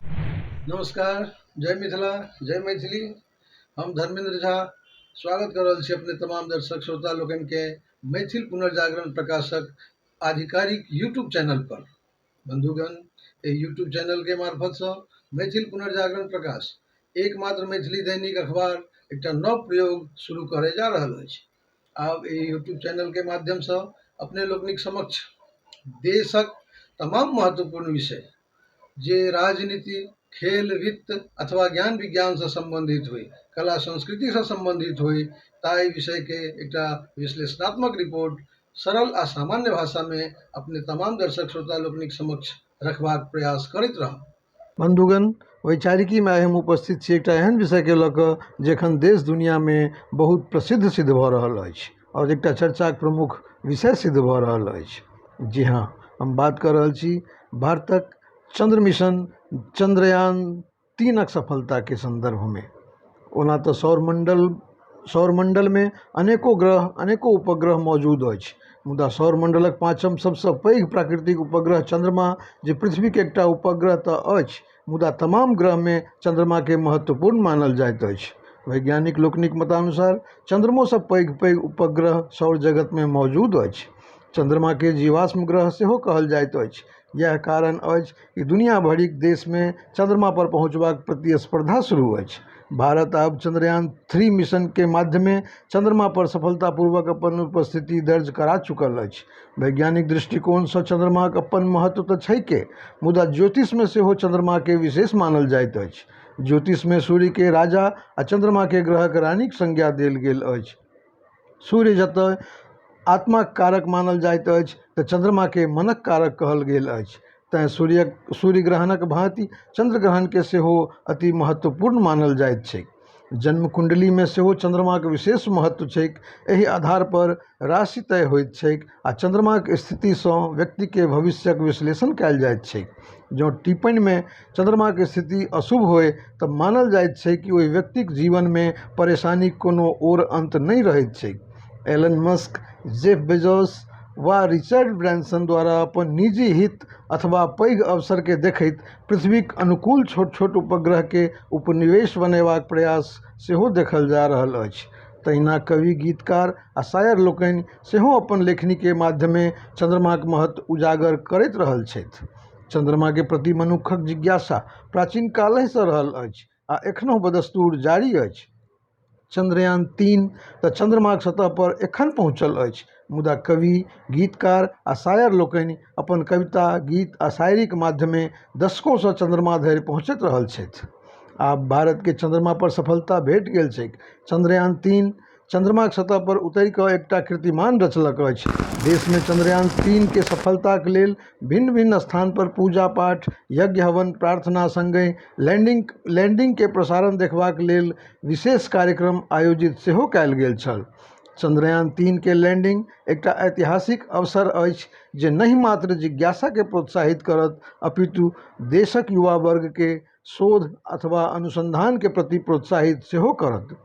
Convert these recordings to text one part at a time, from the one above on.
नमस्कार जय मिथिला जय मैथिली हम धर्मेंद्र झा स्वागत कर रहल छी अपने तमाम दर्शक श्रोता लोकन के मैथिल पुनर्जागरण प्रकाशक आधिकारिक यूट्यूब चैनल पर बंधुगण ए यूट्यूब चैनल के मार्फत से मैथिल पुनर्जागरण प्रकाश एकमात्र मैथिली दैनिक अखबार एकटा नव प्रयोग शुरू करे जा रहल अछि आब एहि यूट्यूब चैनलके माध्यमसँ अपने लोकनिक समक्ष देशक तमाम महत्वपूर्ण विषय जे राजनीति खेल वित्त अथवा ज्ञान विज्ञानसँ सम्बन्धित होइ कला संस्कृतिसँ सम्बन्धित होइ ताहि विषयके एकटा विश्लेषणात्मक रिपोर्ट सरल आ सामान्य भाषामे अपने तमाम दर्शक श्रोता लोकनिक समक्ष रखबाक प्रयास करैत रहब बन्धुगण वैचारिकीमे आइ हम उपस्थित छी एकटा एहन विषयके लऽ कऽ जे एखन देश दुनिआँमे बहुत प्रसिद्ध सिद्ध भऽ रहल अछि आओर एकटा चर्चाके प्रमुख विषय सिद्ध भऽ रहल अछि जी हँ हम बात कऽ रहल छी भारतक चन्द्र मिशन चन्द्रयान तीनक सफलताके सन्दर्भमे ओना तऽ सौर मण्डल सौर मण्डलमे अनेको ग्रह अनेको उपग्रह मौजूद अछि मुदा सौर मण्डलक पाँचम सभसँ पैघ प्राकृतिक उपग्रह चन्द्रमा जे पृथ्वीक एकटा उपग्रह तऽ अछि मुदा तमाम ग्रहमे चन्द्रमाके महत्वपूर्ण मानल जाइत अछि वैज्ञानिक लोकनिक मतानुसार चन्द्रमोसँ पैघ पैघ उपग्रह सौर जगतमे मौजूद अछि चन्द्रमाके जीवाश्म ग्रह सेहो कहल जाइत अछि इएह कारण अछि कि दुनिआँ भरिक देशमे चन्द्रमापर पहुँचबाक प्रतिस्पर्धा शुरू अछि भारत आब चन्द्रयान थ्री मिशनके माध्यमे चन्द्रमापर सफलतापूर्वक अपन उपस्थिति दर्ज करा चुकल अछि वैज्ञानिक दृष्टिकोणसँ चन्द्रमाक अपन महत्व तऽ छैके मुदा ज्योतिषमे सेहो चन्द्रमाके विशेष मानल जाइत अछि ज्योतिषमे सूर्यके राजा आओर चन्द्रमाके ग्रहके रानीक संज्ञा देल गेल अछि सूर्य जतय आत्माक कारक मानल जाइत अछि तऽ चन्द्रमाकेँ मनक कारक कहल गेल अछि। तँए सूर्यक सूर्यग्रहणक भाँति चन्द्रग्रहणकेँ सेहो अति महत्वपूर्ण मानल जाइत छैक। जन्मकुण्डलीमे सेहो चन्द्रमाक विशेष महत्व छैक। एहि आधारपर राशि तय होइत छैक। आ चन्द्रमाक स्थितिसँ व्यक्तिके भविष्यक विश्लेषण कयल जाइत छैक जँ टिप्पणीमे चन्द्रमाक स्थिति अशुभ होय तऽ मानल जाइत छैक कि ओहि व्यक्तिक जीवनमे परेशानीक कोनो ओर अन्त नहि रहैत छैक एलन मस्क जेफ बेजोस वा रिचर्ड ब्रैंसन द्वारा अपन निजी हित अथवा पैघ अवसरकेँ देखैत पृथ्वीक अनुकूल छोट छोट उपग्रहकेँ उपनिवेश बनयबाक प्रयास सेहो देखल जा रहल अछि तहिना कवि गीतकार आ शायर लोकनि सेहो अपन लेखनीके माध्यमे चन्द्रमाक महत्व उजागर करैत रहल छथि चन्द्रमाके प्रति मनुक्खक जिज्ञासा प्राचीन कालेसँ रहल अछि आ एखनो बदस्तूर जारी अछि चन्द्रयान तीन तऽ चन्द्रमाक सतह पर एखन पहुँचल अछि मुदा कवि गीतकार आ शायर लोकनि अपन कविता गीत आ शायरीक माध्यमे दशकोसँ चन्द्रमा धरि पहुँचैत रहल छथि आब भारतके चन्द्रमा पर सफलता भेट गेल छैक चन्द्रयान तीन चन्द्रमाक सतह पर उतरि कऽ एकटा कीर्तिमान रचलक अछि। देश मे चन्द्रयान तीन के सफलताक लेल भिन्न-भिन्न स्थान पर पूजा-पाठ, यज्ञ-हवन, प्रार्थना संगहि लैंडिंग लैंडिंग के प्रसारण देखबाक लेल विशेष कार्यक्रम आयोजित सेहो कयल गेल छल। चन्द्रयान तीन के लैंडिंग एकटा ऐतिहासिक अवसर अछि जे नहि मात्र जिज्ञासा के प्रोत्साहित करत अपितु देशक युवा वर्ग के शोध अथवा अनुसन्धानके प्रति प्रोत्साहित सेहो करत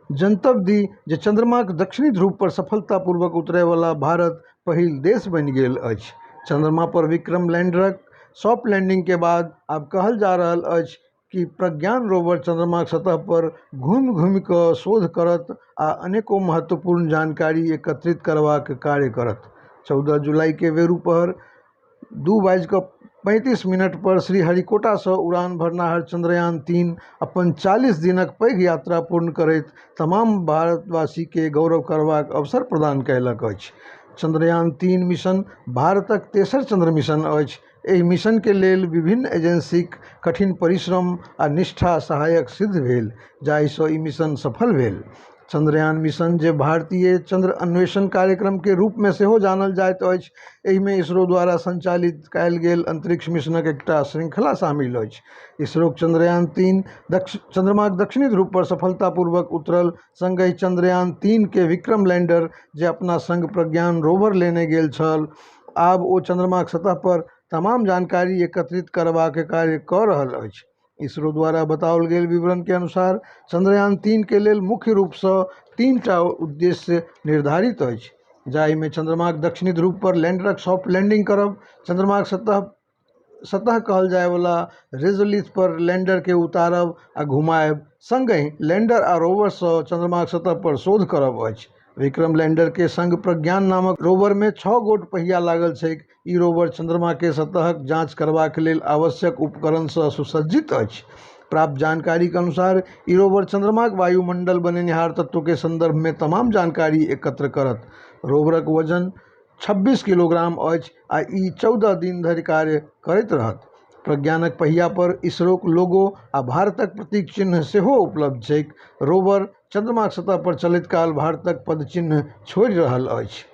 जनतब दी जे चन्द्रमाक दक्षिणी ध्रुव पर सफलतापूर्वक उतरयवला भारत पहिल देश बनि गेल अछि चन्द्रमा पर विक्रम लैंडरक सॉफ्ट लैंडिंग के बाद आब कहल जा रहल अछि कि प्रज्ञान रोवर चन्द्रमाक सतह पर घूमि घूमि क शोध करत आ अनेको महत्वपूर्ण जानकारी एकत्रित करबाक कार्य करत चौदह जुलाईके वेरूपहर दू बाजि कऽ पैंतीस मिनटपर श्रीहरिकोटासँ उड़ान भरनिहार चन्द्रयान तीन अपन चालीस दिनक पैघ यात्रा पूर्ण करैत तमाम भारतवासीकेँ गौरव करबाक अवसर प्रदान कयलक अछि चन्द्रयान तीन मिशन भारतक तेसर चन्द्र मिशन अछि एहि मिशनके लेल विभिन्न एजेन्सीक कठिन परिश्रम आ निष्ठा सहायक सिद्ध भेल जाहिसँ ई मिशन सफल भेल चन्द्रयान मिशन जे भारतीय चन्द्र अन्वेषण कार्यक्रमके रूपमे सेहो जानल जाइत अछि एहिमे इसरो द्वारा सञ्चालित कयल गेल अन्तरिक्ष मिशनक एकटा शृंखला शामिल अछि इसरोक चन्द्रयान तीन दक्ष चन्द्रमाक दक्षिणी ध्रुव पर सफलतापूर्वक उतरल सङ्गहि चन्द्रयान तीन के विक्रम लैंडर जे अपना सङ्ग प्रज्ञान रोवर लेने गेल छल आब ओ चन्द्रमाक सतह पर तमाम जानकारी एकत्रित करबाक कार्य कऽ रहल अछि इसरो द्वारा बताओल गेल विवरण के अनुसार चंद्रयान तीन के लेल मुख्य रूप सँ तीन टा उद्देश्य निर्धारित अछि जाहि मे चंद्रमा के दक्षिणी ध्रुव पर लैंडरक सॉफ्ट लैंडिंग करब चंद्रमा के सतह सतह कहल जाय वाला रेजोलिथ पर लैंडर के उतारब आ घुमायब संगहि लैंडर आ रोवर सँ चंद्रमा के सतह पर शोध करब अछि विक्रम लैंडर के संग प्रज्ञान नामक रोवर मे छह गोट पहिया लागल छैक ई रोवर चंद्रमा के सतहक जांच करबाक लेल आवश्यक उपकरण सं सुसज्जित अछि। प्राप्त जानकारीक अनुसार, ई रोवर चंद्रमाक वायुमंडल बनेनिहार तत्व के संदर्भ मे तमाम जानकारी एकत्र करत। रोवरक वजन छब्बीस किलोग्राम अछि आ ई चौदह दिन धरि कार्य करैत रहत। प्रज्ञानक पहिया पर इसरोक लोगो आ भारतक प्रतीक चिह्न सेहो उपलब्ध छैक। रोवर। चन्द्रमाक सतह पर चलैत काल भारतक पदचिह्न छोड़ि रहल अछि।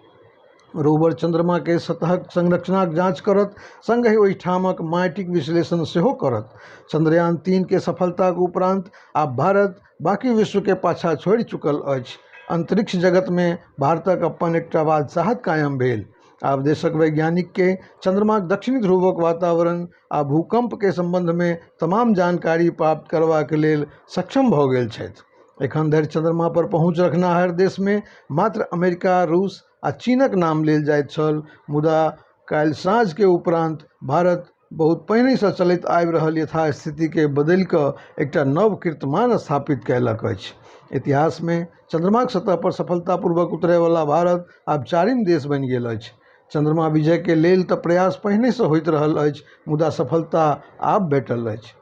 रोवर चन्द्रमा कें सतहक संरचनाक जांच करत, संगहि ओहि ठामक माटिक विश्लेषण सेहो करत। चंद्रयान तीन कें सफलताक उपरांत आब भारत बाकी विश्व कें पाछा छोड़ि चुकल अछि। अंतरिक्ष जगत मे भारतक अपन एकटा बादशाहत कायम भेल। आब देशक वैज्ञानिक कें चंद्रमाक दक्षिणी ध्रुवक वातावरण, आ भूकम्पके सम्बन्धमे तमाम जानकारी प्राप्त करबाक लेल सक्षम भऽ गेल छथि एखन धरि चन्द्रमा पर पहुँच रखनिहार देशमे मात्र अमेरिका रूस आ चीनक नाम लेल जाइत छल मुदा काल्हि साँझके उपरान्त भारत बहुत पहिनेसँ चलैत आबि रहल यथा स्थितिके बदलि कऽ एकटा नव कीर्तिमान स्थापित कयलक अछि इतिहासमे चन्द्रमाक सतह पर सफलता पूर्वक उतरै बला भारत आब चारिम देश बनि गेल अछि चन्द्रमा विजयके लेल तऽ प्रयास पहिनेसँ होइत रहल अछि मुदा सफलता आब भेटल अछि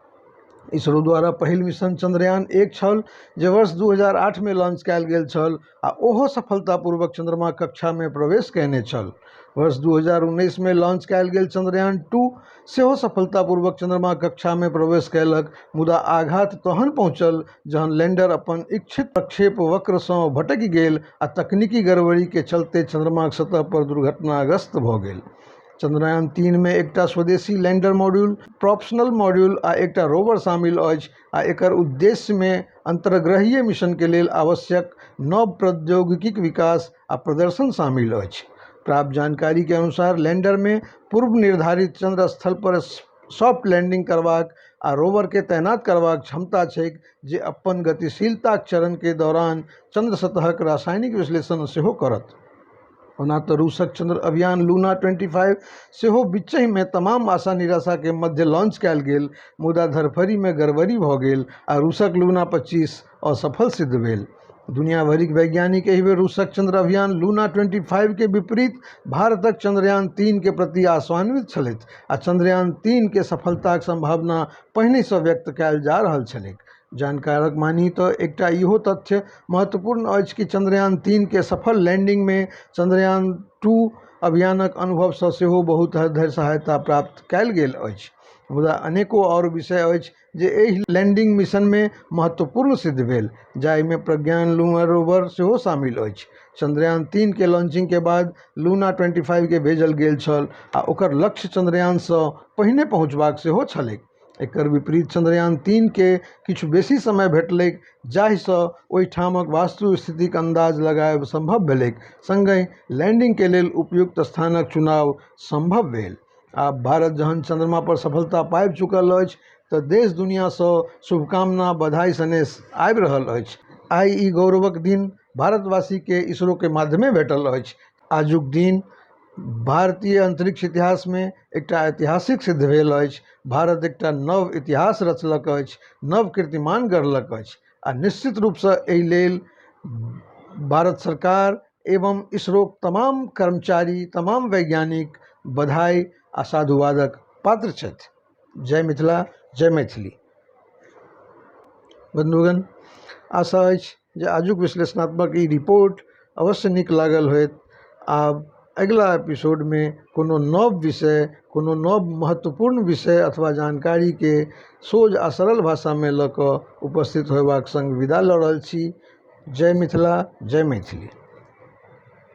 इसरो द्वारा पहिल मिशन चन्द्रयान एक छल जे वर्ष दू हजार आठमे लॉन्च कयल गेल छल आओर ओहो सफलतापूर्वक चन्द्रमा कक्षामे प्रवेश कयने छल वर्ष दू हजार उन्नैसमे लॉन्च कयल गेल चन्द्रयान टू सेहो सफलतापूर्वक चंद्रमा कक्षा मे प्रवेश कयलक मुदा आघात तहन पहुँचल जहन लैंडर अपन इच्छित प्रक्षेप वक्र सँ भटकि गेल आ तकनीकी गड़बड़ी के चलते चंद्रमाक सतह पर दुर्घटनाग्रस्त भऽ गेल। चंद्रयान तीन मे एकटा स्वदेशी लैंडर मॉड्यूल, प्रॉपशनल मॉड्यूल आ एकटा रोवर शामिल अछि आ एकर उद्देश्य मे अंतर्ग्रहीय मिशन के लेल आवश्यक नव प्रौद्योगिकीक विकास आ प्रदर्शन शामिल अछि। प्राप्त जानकारी के अनुसार, लैंडर मे पूर्व निर्धारित चंद्र स्थल पर सॉफ्ट लैंडिंग करबाक आ रोवर के तैनात करबाक क्षमता छैक, जे अपन गतिशीलताक चरण के दौरान चंद्र सतहक रासायनिक विश्लेषण सेहो करत। ओना तऽ रूसक चंद्र अभियान लूना 25 सेहो बीचहिमे तमाम आशा निराशाके मध्य लॉन्च कयल गेल मुदा धरफड़ीमे गड़बड़ी भऽ गेल आ रूसक लूना 25 असफल सिद्ध भेल दुनिया भरिक वैज्ञानिक एहि बेर रूसक चंद्र अभियान लूना 25 के विपरीत भारतक चंद्रयान 3 के प्रति आशान्वित छलथि आ चंद्रयान 3 के सफलताक संभावना पहिनेसँ व्यक्त कयल जा रहल छलैक जानकारक मानी तऽ एकटा इहो तथ्य महत्वपूर्ण अछि कि चन्द्रयान तीन के सफल लैंडिंग मे चन्द्रयान टू अभियानक अनुभव सऽ सेहो बहुत हद धरि सहायता प्राप्त कयल गेल अछि। मुदा अनेको आओर विषय अछि जे एहि लैंडिंग मिशन मे महत्वपूर्ण सिद्ध भेल, जाहि मे प्रज्ञान लूना रोवर सेहो शामिल अछि। चन्द्रयान तीन के लॉन्चिंग के बाद लूना ट्वेंटी फाइव के भेजल गेल छल आ ओकर लक्ष्य चन्द्रयान सऽ पहिने पहुंचबाक सेहो छलैक। एकर विपरीत चन्द्रयान तीन के किछु बेसी समय भेटलैक जाहिसँ ओहिठामक वास्तु स्थितिक अन्दाज लगाएब सम्भव भेलैक सङ्गहि लैंडिंग के लेल उपयुक्त स्थानक चुनाव सम्भव भेल। आब भारत जहन चन्द्रमा पर सफलता पाबि चुकल अछि तऽ देश दुनिया सँ शुभकामना, बधाई सनेश आबि रहल अछि। आइ ई गौरवक दिन भारतवासी के इसरो के माध्यमे भेटल अछि। आजुक दिन भारतीय अन्तरिक्ष इतिहासमे एकटा ऐतिहासिक सिद्ध भेल अछि भारत एकटा नव इतिहास रचलक अछि नव कीर्तिमान गढ़लक अछि आओर निश्चित रूपसँ अइ लेल भारत सरकार एवम इसरोक तमाम कर्मचारी तमाम वैज्ञानिक बधाइ आओर साधुवादक पात्र छथि जय मिथिला जय मैथिली बन्धुगण आशा अछि जे आजुक विश्लेषणात्मक ई रिपोर्ट अवश्य नीक लागल होयत आब अगिला एपिसोडमे कोनो नव विषय कोनो नव महत्वपूर्ण विषय अथवा जानकारीके सोझ आ सरल भाषामे लऽ कऽ उपस्थित होयबाक सङ्ग विदा लऽ रहल छी जय मिथिला जय मैथिली